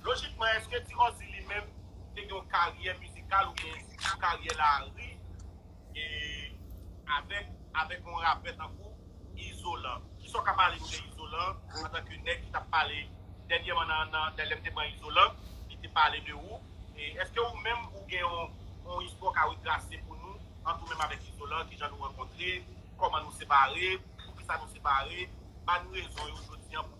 Lojikman eske Ti Ròzi li menm te gen yon karyè mizikal oubyen yon karyè lari avèk avèk yon rapè tankou Izolan? Kisa w ka pale nou de Izolan antanke nèg ki t ap pale dènyèman nan nan lè m te pran Izolan li te pale de ou e eske ou menm ou gen yon yon istwa w ka retrase pou nou ant ou menm avèk Izolan ki jan nou rankontre kòman nou separe poukisa nou separe ba n rezon yo jodi an pou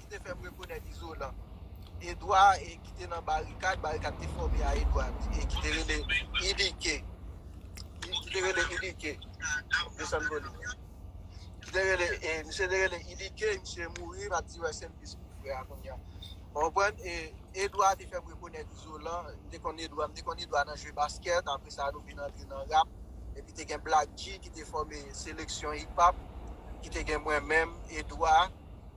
ki te fè m rekonèt Izolan. Edwa e ki te nan barikad, barikad te fòme a Edwa e ki te rele Idike. Ki te rele Idike. Desann vòlè. Ki te rele, e, misye te rele Idike, misye mouri, m ap di wè sèm plis moun frè a kounye a. Ou konprann? E Edwa te fè m rekonèt Izolan. M te konn Edwa, m te konn Edwa nan jwe baskèt, apre sa nou vin antre nan rap. Epi te gen Black-G ki te fòme seleksyon hip-hop, ki te gen mwen menm, Edwa.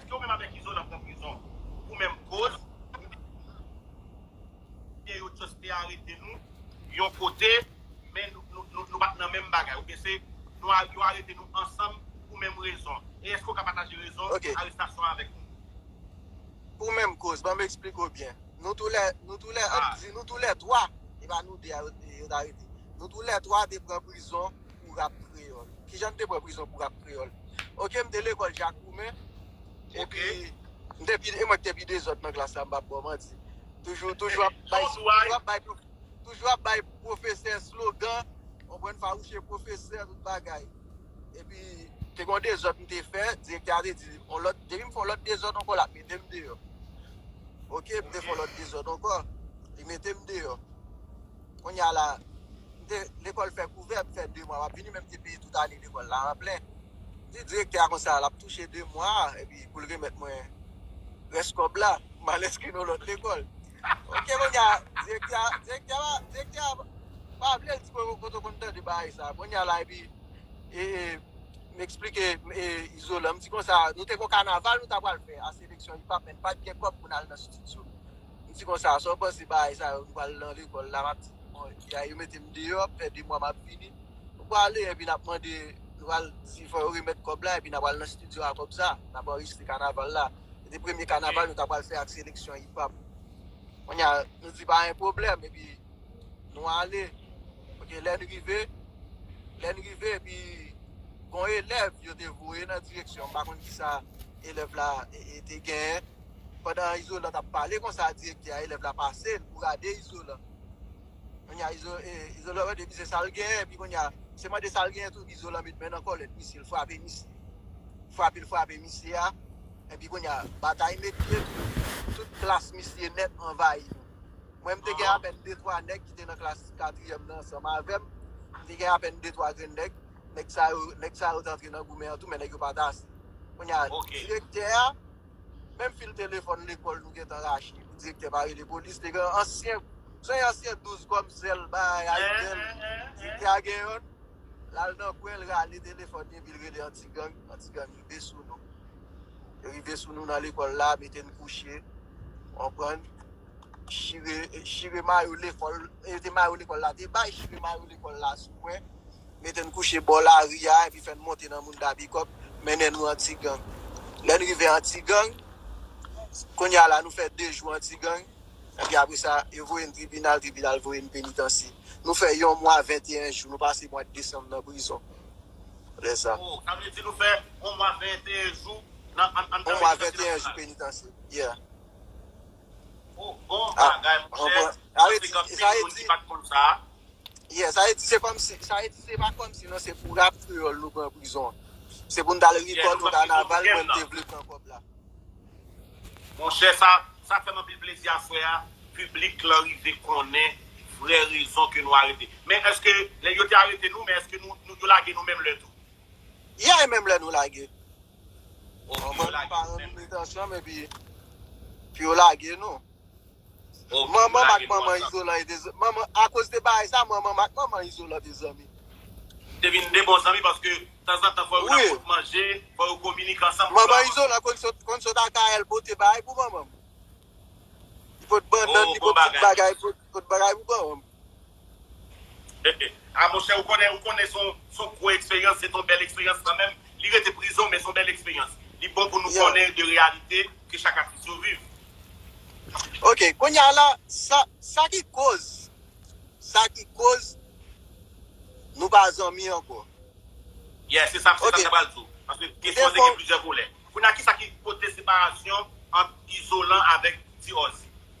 Eske ou menm avek izo nap nan prizon pou menm koz oubyen yo just te arete nou yon kote men nou pat nan menm bagay oubyen se yo arete nou ansanm pou menm rezon e eske ou ka pataje rezon arestasyon an avek nou. Pou menm koz banm esplike w byen nou tou lè nou tou lè ap di nou tou lè 3 e pa nou 2 a yo t arete nou tou lè 3 te pran prizon pou rap kreyòl. Kijan m te pran prizon pou rap kreyòl? Ok m te lekòl Jak Woumen epi m te pi e mwen k te pi dezòd nan klas la m pap ba w manti. Toujou toujou ap bay toujou ap bay toujou ap bay pwofesè slogan konprann fawouche pwofesè tout bagay. Epi te gen yon dezòd m te fè direktè a te di on lòt depi m fè yon lòt dezòd ankò l ap mete m deyò. Ok m te fè yon lòt dezòd ankò li mete m deyò. Kounye a la, m te lekòl fè kou vè, m fè 2 mwa m ap vini men m te peye tout ane lekòl la an plen. M di direktè a konsa l ap touche 2 mwa a epi pou l remèt mwen rès kòb la pou m al enskri nan yon lòt lekòl. Ok kounye a direktè a direktè a direktè a pa vle l di mwen kote w konn tande bagay sa a. Kounye a la epi e m esplike e Izolan m di konsa nou te gen yon kanaval nou ta pral fè a seleksyon Ipap men n pa t gen kòb pou n al nan stidyo. M di konsa, sa w panse bagay sa yo? M pral nan lekòl la, m ap di, bon, ya yo mete m deyò, ap fè de mwa m ap vini. Nou prale, epi n ap mande, nou pral di fò yo remèt kòb la, epi n a pral nan stidyo a kòb sa, n ap anrejistre kanaval la. Se te premye kanaval nou ta pral fè ak seleksyon Hip Hop. Kounye a, nou di pa gen pwoblèm, epi nou ale. Oke, lè n rive, lè n rive, epi gon elèv yo te voye nan direksyon m, m pa konn ki sa elèv la te genyen. Pandan Izolan t ap pale konsa direktè a elèv la pase l pou rade Izolan. Kounye a Izolan mande misye sa l genyen epi kounye a se mande sa l genyen tou epi Izolan met men nan kòlèt misye l frape misye. Frape l frape misye a epi kounye a batay met pye tout klas misye nèt anvayi nou. Mwen m te gen apèn de twa nèg ki te nan klas katriyèm nan ansanm avè m. M te gen apèn de twa grenn nèg. Nèg sa yo te antre nan goumen an tou men nèg yo pa t ase. Kounye a direktè a. Menm fil telefòn lekòl nou gentan rache pou direktè pa rele polis te gen ansyen son yon ansyen 12 kòm sèl bay Ayitel direktè a gen yon l al nan kwen l rale telefòn li epi l rele anti gang anti gang rive sou nou yo rive sou nou nan lekòl la mete n kouche konprann chire chire mayo lekòl yo te mayo lekòl la te bay chire mayo lekòl la sou mwen mete n kouche bò lari a epi fè n monte nan moun da bikòp mennen nou antigang. Lè n rive antigang, kounye a la nou fè de jou antigang epi apre sa yo voye n tribinal, tribinal voye n penitansye. Nou fè yon mwa 21 jou, nou pase mwad desanm nan prizon lè sa. Oh, sa vle di nou fè yon mwa 21 jou nan, an, an, an penitansye nasyonal? Yon mwa 21 jou penitansye, yeah. Ou bon bagay monchè. Sa vle di gen anpil moun ki pat konn sa. Yeah, sa vle di se kòmsi, sa vle di se pa kòmsi non, se pou rap kreyòl nou pran prizon. Se pou nou t'al rekòl nou kanaval pou nou te vle pran kòb la. Monchè sa, sa fèm anpil plezi a frè a, piblik lan rive konnen vrè rezon ke nou arete. Men eske lè yo te arete nou, men eske nou, yo lage nou menm lè tou? Yeah, menm lè nou lage. Manman nou pa renmen nou met ansanm epi pou yo lage nou. Manman ak manman izolan e de zanmi. A koz de bagay sa manman ak manman izolan de zanmi. Te vin de bon zanmi paske tanzantan fò yo ta fout manje, fò yo kominike ansanm. Manman izolan konn sot al kay el pote bagay pou manman. Li pot bannan, li pot tout bagay pou manman. Ah monchè ou konnen ou konnen son son gwo eksperyans se ton bèl eksperyans kanmenm li rete prizon men son bèl eksperyans li bon pou nou Yeah. konnen de reyalite ke chak atis yo viv. Ok kounya la sa sa ki koz sa ki koz nou pa zanmi ankò. Yeah se sa se Ok sa m ta pral di w paske M kesyon an te defo gen plizyè volè. Kounya kisa ki pote separasyon ant Izolan avèk Ti Ozzy?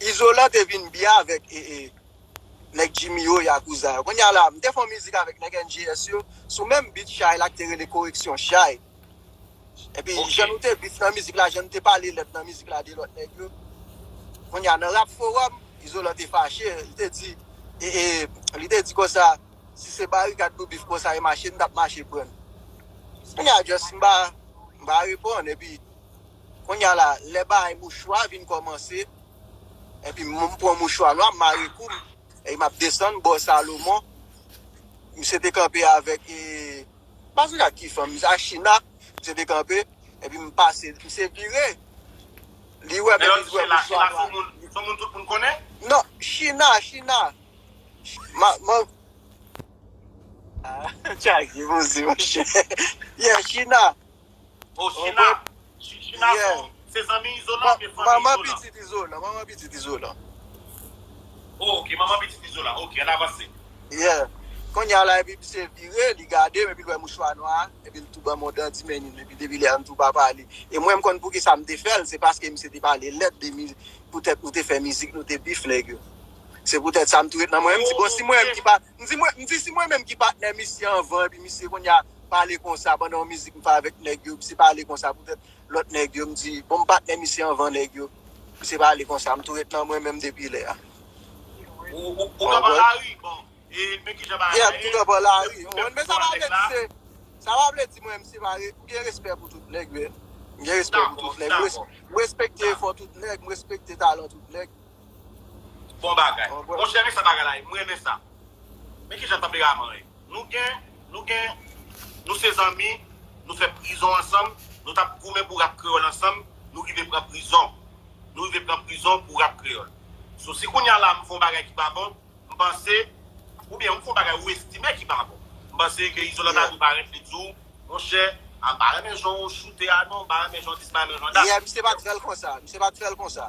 Izolan te vin byen avèk nèg Jimmy yo, Yakouza yo. Kounya la, m te fè yon mizik avèk nèg NJS yo sou menm beat Chay la ki te rele Koreksyon Chay. Epi jan nou te beef nan mizik la, jan nou te pale lèd nan mizik la de lòt nèg yo. Kounya nan Rap Forum, Izolan te fache, li te di, li te di konsa, si se barikad nou beef konsa e mache, n t ap mache pran l. Kounya just m pa reponn epi. Konnya la lè baay mouchwa vin kòmanse epi m pran mouchwa nwa m mare kou m epi m ap desann bò Salomon misye te kanpe avèk e m pa sonje ak ki fanm misye ak China misye te kanpe epi m pase misye vire li wè m epi l wè mouchwa nwa a. China son moun tout moun konnen? Non China China ma ma Ahh tchage boze monchè Yeah China. Osina, Chichina Pou se zanmi Izolan oubyen fanmi Izolan? Manman pitit Izolan, manman pitit Izolan. Oh ok, manman pitit Izolan. Ok, ann avanse. Yeah. Kounye a la epi misye vire, li gade m epi l wè mouchwa nwa a, epi l tou ban m yon dandi men li, epi depi lè a m tou pa pale. E mwen m konn poukisa m te fè l, se paske misye te pale lèd de mi, poutèt nou te fè mizik, nou te bif nèg yo. Se poutèt sa m tou ret nan mwen, m di bon si mwen menm ki pa. M di mwen, m di si mwen menm ki patnè misye anvan epi misye kounye a pale konsa pandan yon mizik m fè avèk nèg yo, misye pale konsa poutèt lòt nèg yo, m di bon m patnè misye anvan nèg yo, misye pale konsa, m tou ret nan mwen menm depi lè a. Ou kanpe lari, bon, e men kijan bagay la ye. Yeah, m tou kanpe lari. Ou konprann? Men sa pa vle di se, sa pa vle di mwen menm se pa, m gen respè pou tout nèg men. M gen respè pou tout nèg. Dakò, dakò. M respekte efò tout nèg, m respekte talan tout nèg. Bon bagay. Monchè men sa bagay la ye m renmen sa. Men kijan tanperaman ye. Nou gen nou gen nou se zanmi nou fè prizon ansanm nou tap goumen pou rap kreyòl ansanm nou rive pran prizon nou rive pran prizon pou rap kreyòl so si kounya la m fon bagay ki pa bon m panse oubyen ou fon bagay ou estime ki pa bon m panse ke Izolan ta dwe parèt li di w monchè a m pa renmen jan w choute a non m pa renmen jan w di si m pa renmen jan w di sa. Misye pat fèl konsa misye pat fèl konsa.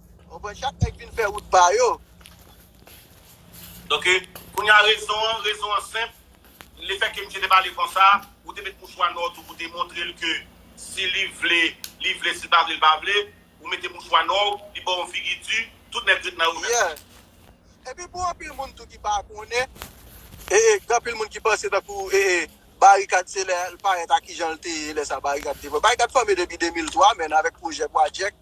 Ou pran chak nèg vin fè wout pa yo. Donke, kounye a rezon an, rezon an senp, le fè ke misye te pale konsa, ou te met mouchwa nò tou pou te montre l ke si li vle, li vle, si l pa vle, l pa vle, ou mete mouchwa nò w, li ba w yon figi di, tout nèg ret nan remèt. Yeah. Epi pou anpil moun tou ki pa konnen, e e gen anpil moun ki panse tankou e e Barikad se lè l parèt a kijan l te ye lè sa Barikad te fò. Barikad fòme depi 2003 menn avèk pwojè Pwajèk.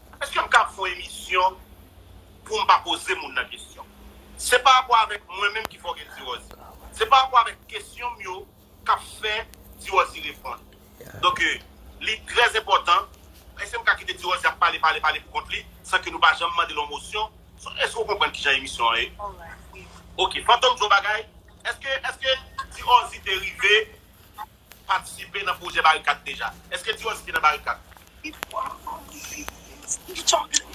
Eske m kab fon emisyon poum pa poze moun nan kesyon. Se pa rapò avèk mwen menm ki fò gen Diròzi. Se pa rapò avèk kesyon m yo kap fè Diròzi reponn. Donk li trè enpòtan. Eske m ka kite Diròzi ap pale pale pale pou kont li san ke nou pa janm mande l yon mosyon? Eske ou konprann kijan emisyon an ye? Ok. Fantom di yon bagay. Eske Diròzi te rive patisipe nan pwojè barikad deja? Eske ti Wòziki nan barikad?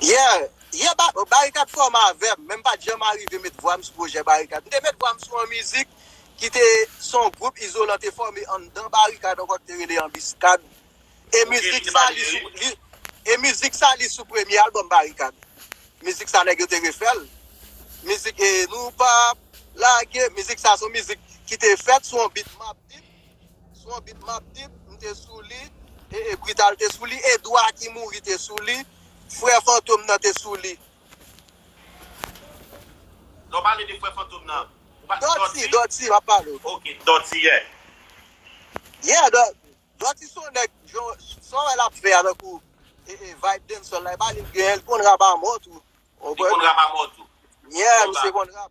Yeah yeah Barikad fòm avèm men m pat janm arive met vwa m sou pwojè barikad. M te met vwa m sou yon mizik ki te son gwoup izolan te fòme anndan barikad ankò ki te rele anbiskad E mizik sa li sou li e mizik sa li sou premye album Barikad. Mizik sa nèg yo te refèl. Mizik e nou pap lage. Mizik sa son mizik ki te fèt sou yon beat map deep. Sou yon beat map deep m te sou li. E e Brital te sou li. Edwa ki mouri te sou li. Frè Fantom nan te sou li. Lè w pale de frè Fantom nan. Dòti, Dòti map pale w. Ok, Dòti yeah. Yeah, Doti son nèg jan sa wè lap fè a tankou vibe dancehall la epa li gen l konn rap a mò tou. Li konn rap a mò tou. Yeah misye konn rap.